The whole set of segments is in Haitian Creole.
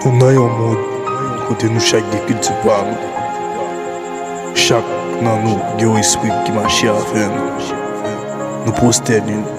Nou nan yon mond kote nou chak gen kilti pa nou. Chak nan nou gen yon espri ki mache avè nou. Nou pwostène.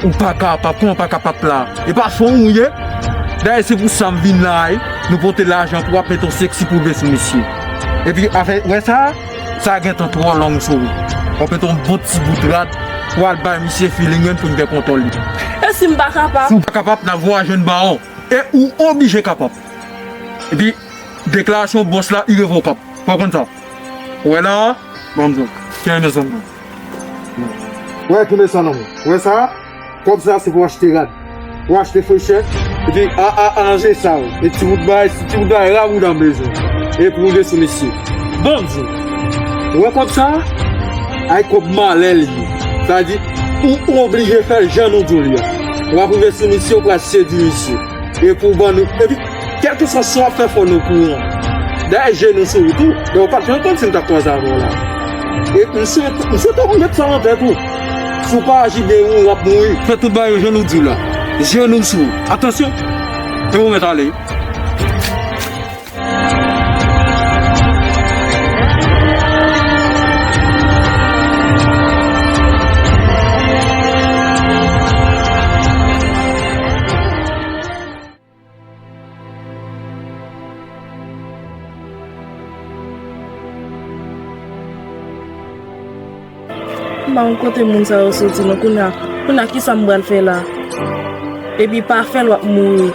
Ou pa ka pap kòman ou pa ka pap la e pa fò ou ye dayè se pou sam vin la a nou pote lajan pou wap met yon sexy poube sou misye epi afè wè sa sa gentan twò long sou ou wap met yon bon ti bout rad pou al bay misye feeling menm poun gen kontòl li e sim pa kapab si ou pa kapab nap voye jwenn bawon e ou oblije kapab epi deklarasyon bòs la irevokab fòw konn sa wè la a banm zòrèy kenbe zòrèy. Wè ki mechan non. Ou wè sa? Kòb sa se pou achte rad, pou achte frechè. Epi a a a lanje sal. E ti bout bagay, se ti bout bagay la bouda m bezwen. E pou rive sou mesye. Banm di w. Ou wè kòb sa? Ay kòb malè li ye. Sa vle di ou oblije fè l jan nou di w li a. Wap rive sou misye ou pral sedui misye. E pou w bannou. Epi. Kèlkeswa sa w ap fè fò n okouran. Dayè je nou sou ou tou, donk ou pa t janm konn si n t ap kwaze avè w la. E m swete ou met sa an tèt ou, si w pa aji byen ou ap mouri. Fè tout bagay jan nou di w la. Je nou sou ou. Atansyon! E ou mèt ale. Mwen kote moun sa yo soti nan koun ya Koun ya ki sa m bral fè la Epi pa fè l wap mouri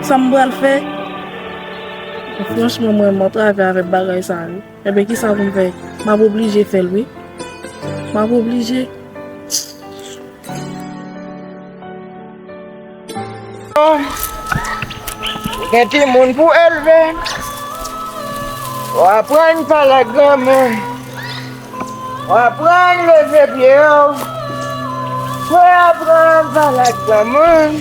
Sa m bral fè Franchman mwen mwen trave avè bagay sa yo Enben kisa pou m fè? M ap oblije fè l wi. M ap oblije. Ou gen timoun pou w elve. Ou aprann pale ak granmoun. Ou aprann leve pye w. Ou aprann pale ak granmoun.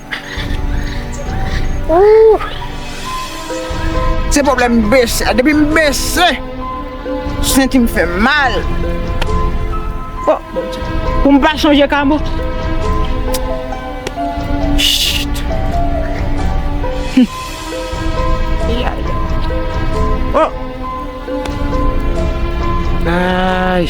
Se pwoblèm m bese a. Depi m bese, senti m fè mal. O Bondye! Pou m pa sonje Kamo. Chut! Yaya! O! Ayy!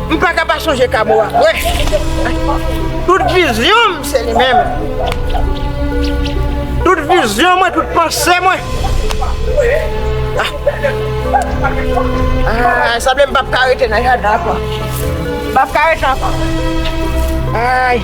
M pa ka pa sonje Kamo a vre. Tout vizyon m se li menm. Tout vizyon mwen, tout panse mwen. Aaa, sa ble m pap ka rete nan jadan ankò. M pap ka rete ankò. Aay.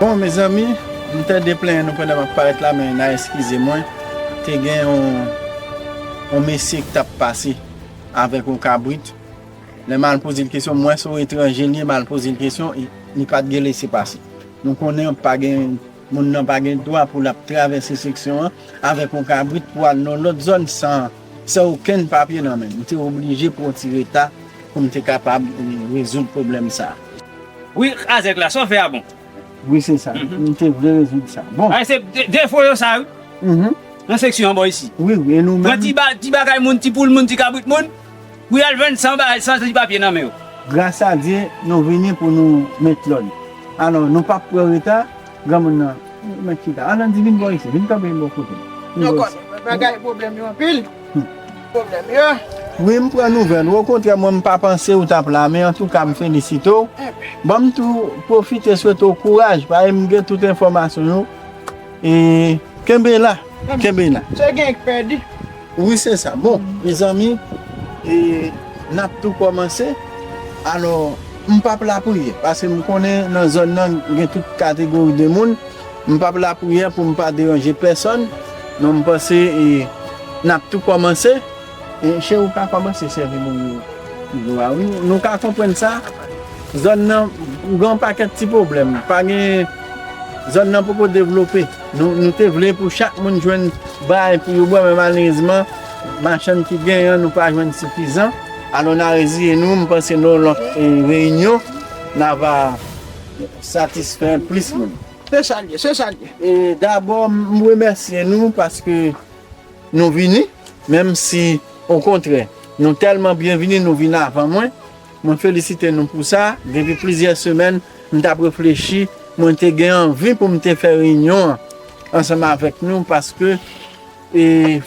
Bon mezanmi m tande plenyen nou pandan map parèt la men na eskize mwen te gen yon mesye ki tap pase avèk yon kabrit lè mal poze l kesyon m wè se yon etranje li ye mal poze l kesyon li pat gen lese pase nou konnen pa gen Moun nan pa gen dwa pou l ap travèse seksyon an avèk yon kabrit pou al nan lòt zòn san san okenn papye nan men. M te oblije pran ti reta pou m te kapab rezoud pwoblèm sa a. Wi, Kazèk la, sa w fè a bon. Wi, se sa. M te vle rezoud sa. Bon. Bagay se defo yo sa wi, nan seksyon an bò isit. Wi, wi, e nou menm? Pran ti bagay moun, ti poul moun, ti kabrit moun. Pou yal vann san bagay san ti papye nan men yo. Gras a Dye nou vini pou nou met lòd. Alò nou pap pran reta, granmoun nan ou mèt chita. Anandi vin bò isi, vin kanpe bò kote m. Nou konnen bagay pwoblèm yo anpil. Pwoblèm yo. Wi m pran nouvèl ou, okontrè mwen m pa panse ou t ap la men antouka m felisite w. Ban m tou pwofite swete w kouraj paske m gen tout enfòmasyon yo e kenbe la, kenbe la. Se gen k pèdi. Wi se sa. Bon mezanmi e nap tou kòmanse alò m pap lapriyè paske m konnen nan zòn nan gen tout kategori de moun m pap lapriyè pou m pa deranje pèsòn non m panse e nap tou kòmanse e cheri ou ka kòmanse sèvi moun yo dlo a wi nou ka konprann sa zòn nan gen yon pakèt ti pwoblèm pa gen zòn nan poko devlope. Nou te vle pou chak moun jwenn bay pou yo bwè men malerezman machann ki gen an nou pa jwenn sifizan alò na reziye nou m panse nan yon lòt reyinyon na va satisfè plis moun. Se sa l ye, se sa l ye. E dabò m remèsye nou paske nou vini menm si okontrè nou tèlman byenvini nou vin avan mwen. Mwen felisite nou pou sa, depi plizyè semèn m t ap reflechi, mwen te gen anvi pou m te fè reyinyon an ansanm avèk nou paske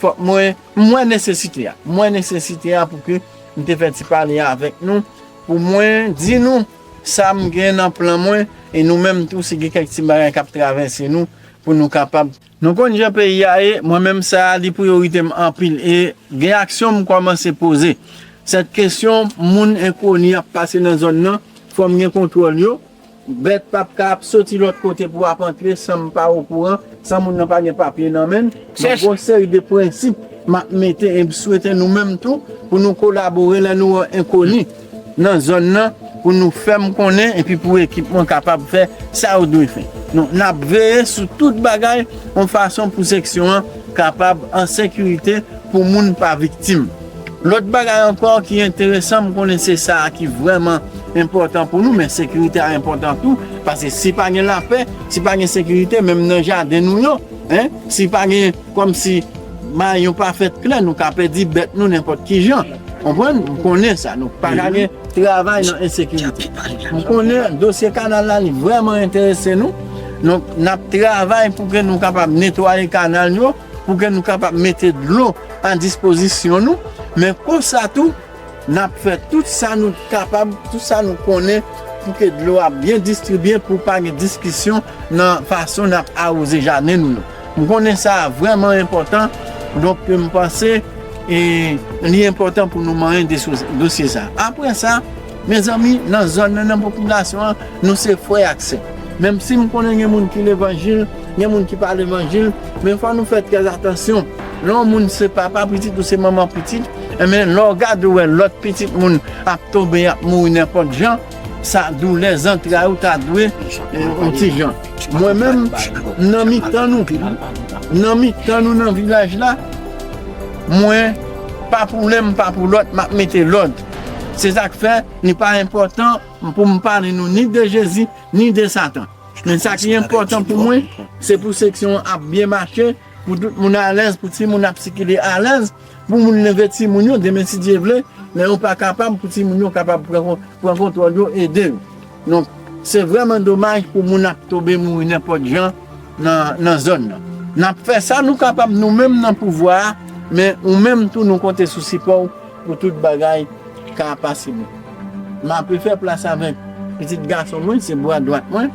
fòk mwen, m wè nesesite a, m wè nesesite a pou ke m te fè ti pale a avèk nou pou mwen di nou sa m gen nan plan mwen e nou menm tou si gen kèk ti bagay k ap travèse nou pou nou kapab. Nou konn jan peyi a ye, mwen menm sa a li priyorite m anpil e gen aksyon m kòmanse poze. Sèt kesyon moun enkoni ap pase nan zòn nan, fò m gen kontwòl yo, bèt pap ka ap soti lòt kote pou ap antre san m pa okouran, san moun nan pa gen papye nan men l, donk gon seri de prensip m ap mete e m swete nou menm tou pou nou kolabore lè nou wè enkoni. nan zòn nan pou nou fè m konnen epi pou ekip mwen kapab fè sa yo dwe fè. Donk n ap veye sou tout bagay yon fason pou seksyon an kapab an sekirite pou moun pa viktim. Lòt bagay ankò ki enteresan m konnen se sa a ki vrèman enpòtan pou nou men sekirite a enpòtan tou paske si pa gen lapè, si pa gen sekirite menm nan jaden nou yo, si pa gen. Kòm si may yo pa fèt klè, nou ka pèdi bèt nou nenpòt ki jan. Konprann? M konnen sa. Nou pa ka gen travay nan ensekirite. M konnen dosye kanal la li vrèman enterese nou. Donk, n ap travay pou ke nou kapab netwaye kanal yo, pou ke nou kapab mete dlo a dispozisyon nou. Men konsa tou. N ap fè tout sa nou kapab, tout sa nou konnen pou ke dlo a byen distribye, pou pa gen diskisyon nan fason n ap awoze jaden nou yo. M konnen sa a vrèman enpòtan, donk m panse li enpòtan pou nou manyen dosye sa a. Apre sa, mezanmi, nan zòn nan, nan popilasyon an, nou se frè ak sè. Menm si m konnen gen moun ki levanjil, gen moun ki pa levanjil, men fò nou fè trèzatansyon. Lè yon moun se papa pitit ou se manman pitit, Enben, lè w gade ou wè lòt pitit moun ap tonbe, y ap mouri nenpòt jan, sa doulè zantray ou ta dwe yon ti jan. Mwen menm, m nan mitan nou, m nan mitan nou nan vilaj la, mwen, pa pou len m pa pou lòt, m ap mete lòd. Se sa k fè, li pa enpòtan pou m pale nou ni de Jezi, ni de Satan. Men sa ki enpòtan pou mwen, se pou seksyon an ap byen mache, Pou tout moun alèz, pou ti moun ap sikile alèz, pou moun leve ti moun yo demen si Dye vle, lè yo pa kapab pou ti moun yo kapab pran kontwòl yo ede yo. Donk se vrèman domaj pou moun ap tobe mouri nenpòt jan nan zòn nan. Nap fè sa nou kapab nou menm nan pouvwa a, men ou menm tou nou konte sou sipò ou. Pou tout bagay ka pase bon. Maple fè plas avèk pitit gason mwen se bwa dwat mwen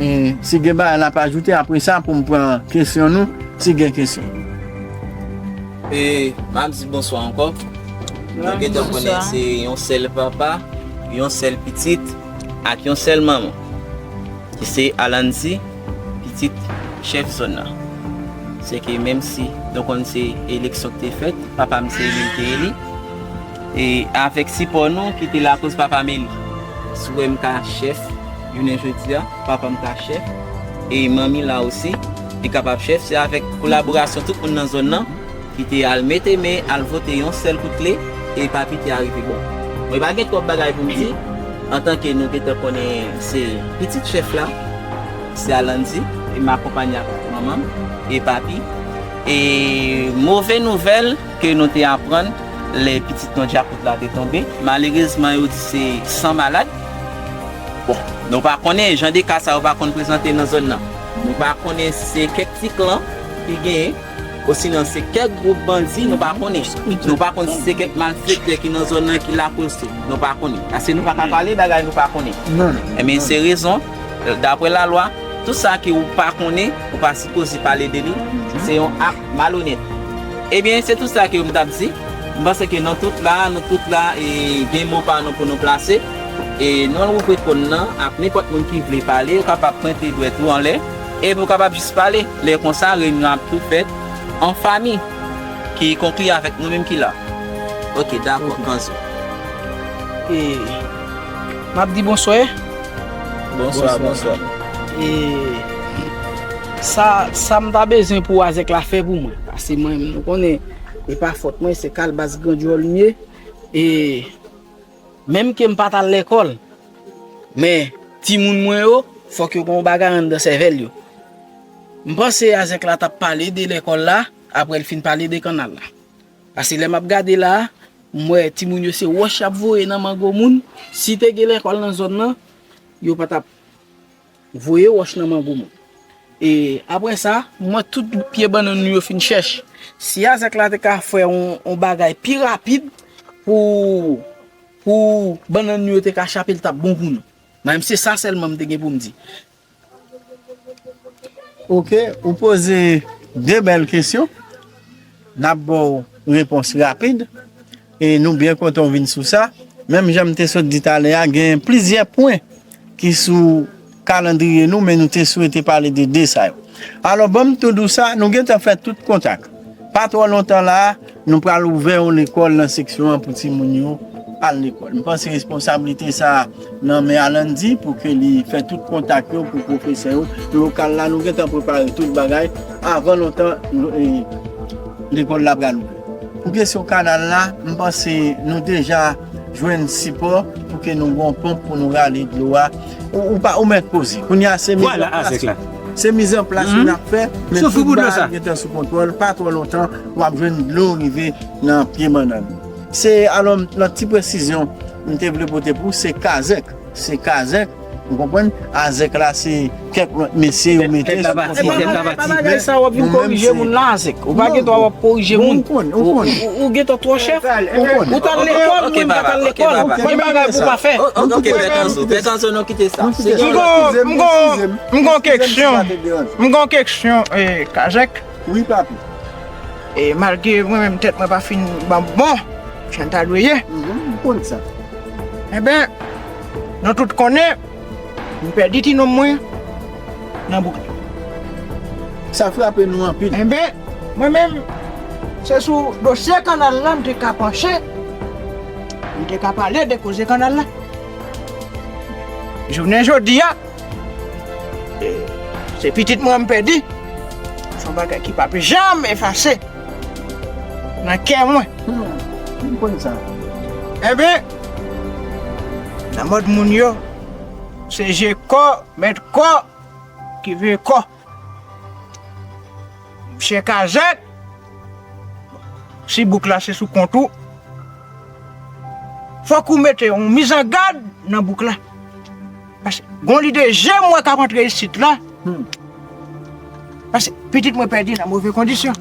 e si gen bagay lap ajoute apresa poum pran kesyon nou si gen kesyon. E map di bonswa ankò. Nou gentan konnen se yon sèl papa, yon sèl pitit ak yon sèl manman ki se Alancy. Pitit chèf zòn nan. Se ke menm si nou konn se eleksyon ki te fèt, papa m se eli m te eli. E avèk sipò nou ki te lakoz papa m eli. Si w wè m ka chèf jounen jodi a, papa m ka chèf e manmi la osi li kapab chèf se avèk kolaborasyon tout moun nan zòn nan. Kite al mete men al vote yon sèl kout kle e pa piti a rive bon. Mwen pa gen twòp bagay pou m di antanke nou gentan konnen se pitit chèf la se a Landy e m akonpanye ak manman m e papi e move nouvèl ke nou te aprann lè pitit nou Djakout la te tonbe malerezman yo di se san malad bon nou pa konnen jan de ka sa yo pa konn prezante nan zòn nan nou pa konnen si se kèk ti klan ki genyen. Osinon se kèk gwoup bandi nou pa konnen. Nou pa konn si se kèk malfektè ki nan zòn nan ki lakoz tou. Nou pa konnen. Paske nou pa ka pale bagay nou pa konnen. Enben se rezon, dapre lalwa, tout sa ke ou pa konnen, ou pa sipoze pale de li, se yon ak malonèt. Ebyen, se tout sa ke m t ap di. M panse ke nan tout la a, nou tout la a, gen mo pa nou pou nou plase. E non Ruprecht Paul nan, ak nenpòt moun ki vle pale, ou kapab pwente dwèt ou anlè. E nou kapab jis pale, lè konsa reyinyon ap tou fèt an fami ki konkli avèk nou menm ki la. Ok, dakò, kanzo. E m ap di bonswa. Bonswa, bonswa. E sa, sa m ta bezwen pou Azèk la fè pou mwen? Pase mwen, nou konnen, e pa fòt mwen, se kalbas gran djòl m ye. E. Menm ke m pa t al lekòl, men timoun mwen yo fòk yo gen yon bagay anndan sèvèl yo. M panse a Zèk la t ap pale de lekòl la apre l fin pale de kannal la. Pase lè m ap gade la a, m wè timoun yo se wòch y ap voye nan mango moun. Si te gen lekòl nan zòn nan, yo pa t ap. Voye wòch nan mango moun. E apre sa, mwen tout pye bannann nou yo fin chèch. Si Azèk la te ka fè yon bagay pi rapid pou bannann nou yo te ka chape li t ap bon pou nou. Mwen se sa sèlman m te gen pou m di. Ok, ou poze 2 bèl kesyon. N ap ba w repons rapid. E nou byen kontan ou vin sou sa. Menm jan m te sot di talè a, gen plizyè pwen ki sou kalandriye nou men nou te swete pale de 2 sa yo. Alò ban m tou di w sa, nou gen tan fè tout kontak. Pa twò lontan la a, nou pral ouvè yon lekòl nan seksyon an pou timoun yo al lekòl. M panse responsablite sa a nan men Alandi pou ke li fè tout kontak yo pou pwofesè yo. Lokal la nou gen tan prepare tout bagay. Avan lontan, lekòl la pral ouvè. Pou kesyon kanal la, m panse nou deja jwenn sipò pou ke nou gon ponp pou nou rale dlo a. Ou pa, ou mèt poze. Kounye a se miz an plas. Se miz an plas nou ap fè, men tout ba a gentan sou kontwòl, pa twò lontan w ap jwenn dlo rive nan pye bannann. Se alò nan ti presizyon m te vle pote pou, se kazèk. Se kazèk ou konprann azèk la se kèk lòt mesye yo mete sou kòt moun. Epa nan epa bagay sa wap vin korije moun la azèk ou pa gen dwa wap korije moun ou gen tan twò chè ou tal lekòl mwen mpa tal lekòl gen bagay pou pa fè. Ok Bèkanso Bèkanso nou kite sa. Mgon mgon mgon keksyon mgon keksyon kazèk. Wi papi. E malgre mwen menm tèt mwen pa fin banm bon jan l ta dwe ye. M konn sa. Enben, nou tout konnen m pèdi ti nonm mwen nan bouk li. Sa frape nou anpil. Enben, mwen menm se sou dosye kannal la m te ka panche, m te ka pale de koze kannal la. Jounen jodi a. Se pitit mwen m pèdi, se yon bagay ki pap janm efase nan kè mwen. M konn sa. Enben, nan mond moun yo, se je kò, mèt kò, ki vye kò. Chè kazèk! Si bouk la se sou kont ou, fòk ou mete yon mizangad nan bouk la. Pase, gon lide je mwen kap antre isit la, pase, pitit mwen pèdi nan move kondisyon.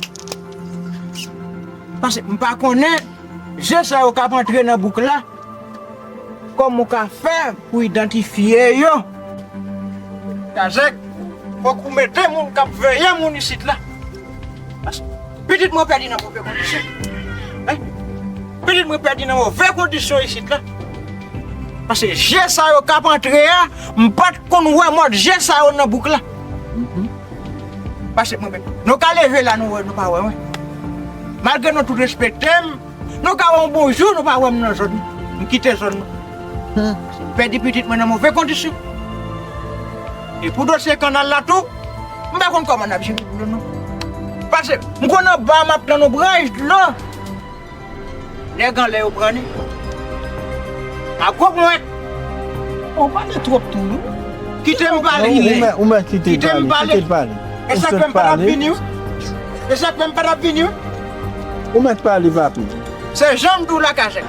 Pase, mpa konnen, je sa yo kap antre nan bouk la, Kòman w ka fè pou idantifye yo? Kazèk, fòk ou mete moun k ap veye moun isit la. Paske pitit mwen pèdi nan move kondisyon. Wi, pitit mwen pèdi nan move kondisyon isit la. Paske je sa yo k ap antre a, m pa t konn wè mòd je sa yo nan bouk la. Paske mwen menm, nou ka leve la nou wè, nou pa wè mwen. Malgre nou tout respekte m. Nou ka wè m bon jou nou pa wè m nan zòn m kite zòn nan. M pèdi pitit mwen nan move kondisyon. E pou dosye kannal la tou, m pa konn kòman n ap jere dlo non. Pase m konn anba a m ap tann yon branch dlo nèg anlè yo pran li ak gwo ponyèt. Ou pale twòp tou wi. Kite m pale. Ou mèt kite l pale. Kite l pale. E sa k fè m pa t ap vini wi. E sa k fè m pa t ap vini wi. Ou mèt pale papi. Se janm di w la kazèk.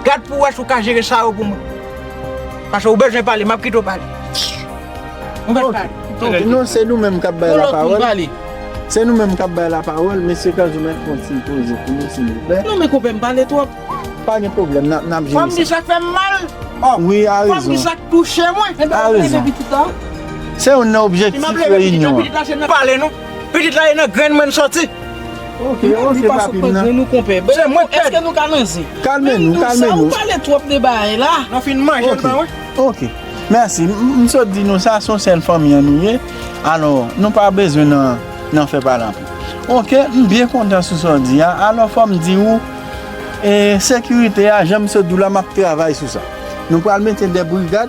Gad pou w wè si w ka jere sa yo pou mwen. Pase ou bezwen pale, m ap kite w pale. Ou mèt pale. Ok, non se nou menm k ap bay la pawòl. Se nou menm k ap bay la pawòl. Mesye Kaz ou mèt pran ti poze pou nou silvouplè. Non men konpè m pale twòp. Pa gen pwoblèm, n ap jere sa. Fò m di sa k fè m mal. Wi, a rezon. Fò m di sa k touche mwen. A rezon. Se youn nan objektif reyinyon an. Pale non. Pitit la e nan grenn mwen soti. Ok ok papi m nan. Li pa sot nan grenn ou konpè. Bel mwen pèdi. Eske nou ka nan zen. Kalme nou kalme nou. Mendoza ou pale twop de bagay la. Nan fin manje m nan wi. Ok mèsi m sot di nou sa son sèl fanmi an nou ye. Alò nou pa bezwen nan fè pale anpil. Ok m byen kontan sou sa w di a. Alò fò m di ou e sekirite a jan m sot di w la m ap travay sou sa. Nou pral mete de brigad.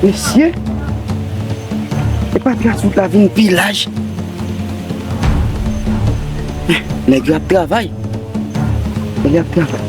Mesye, e pa plas ou ta vin pi laj. Nèk yo ap travay. Nèk yo ap travay.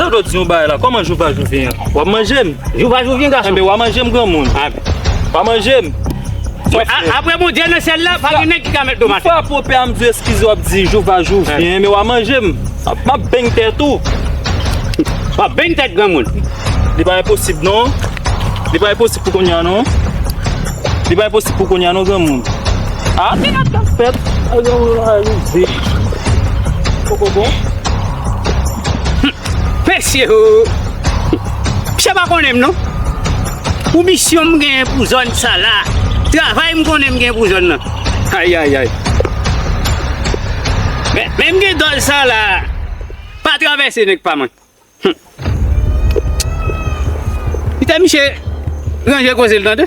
Mwen vle di yon bagay la, kòman jou pa jou vyen an? Wap manjem? Jou pa jou vyen gason. Enben wa manjem granmoun. Wa manjem. Aprè Bondye nan syèl la, pa gen nèg ki ka met dlo m atè. Yon fwa pou pè a m di w eskize wap di jou pa jou vyen enben wa manjem. Map beny tèt ou. Wap beny tèt granmoun. Li pa enposib non. Li pa enposib. Pou kounya non. Li pa enposib pou kounya non granmoun. A ah, mena kap fèt. A granmoun a rive. Poko bon. Mesye ho. Misye pa konnen m non. Pou misyon m gen pou zòn sa la. Travay m konnen m gen pou zòn nan. Ayayay. Men m gen dòl sa la. Pa travèse nèk pa mwen. Humm Kite misye ranje koze l tande.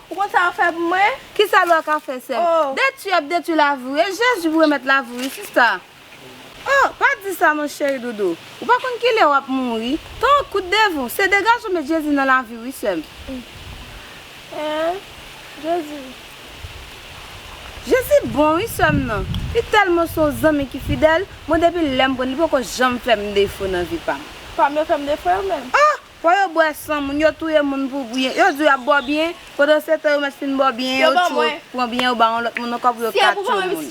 Ou konn sa yo fè pou mwen? Kisa lwa ka fè sèm? Detwi ap detwi lavi ou e Jezi pou remèt lavi wi sista. Oh pa di sa non cheri doudou ou pa konn kilè wap mouri tan an kout devan se degaj ou met Jezi nan laviw wi sèm. Eeh Jezi. Jezi bon wi sèm nan li tèlman son zanmi ki fidèl mwen depi lèm konn li poko janm fèm defo nan vi pam. Pam yo fèm defo yo menm. Oh Fò yo bwè san moun, yo touye moun pou byen. Yo di yo ap bò byen, pandan se tan yo mèt fin bò byen, yo tjou pran byen yo ba yon lòt moun ankò pou yo ka tjou moun.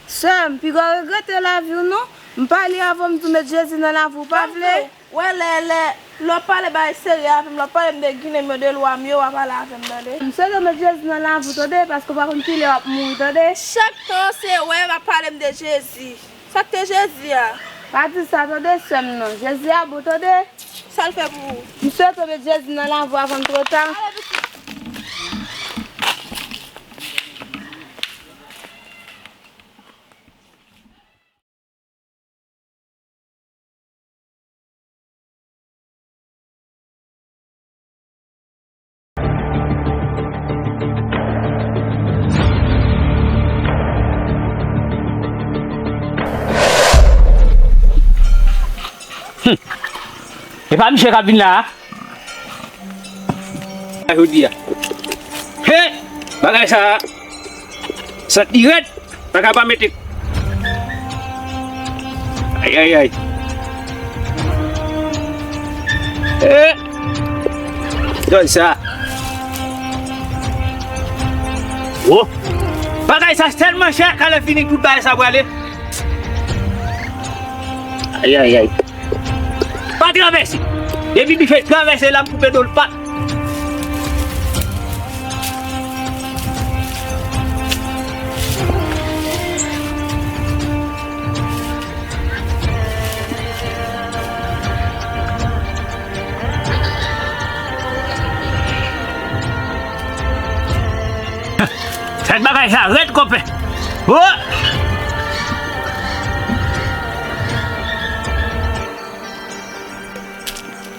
Sè m, piga w regrete lavi w non. M pale avè w m di w met Jezi nan lavi w, pa vle? M swete w met Jezi nan lavi w tande, paske w pa konn ki lè w ap mouri tande. Sak te jezi a. Pa di sa tande sèm nan. Jezi a bon tande. Sal fè pou ou. M swete w met jezi nan lavi w avan l tro ta. Humm epa misye kap vin la a Jodi a He bagay sa a. Sant li red paka pa mete. Ayayay. Eeh. Gade sa. Woo. Bagay sa selman chè kale fini tout bagay sa prale. Ayayay. Pa travèse. Depi bife travèse la m koupe dol pa. Fèt bagay sa rèd konpè.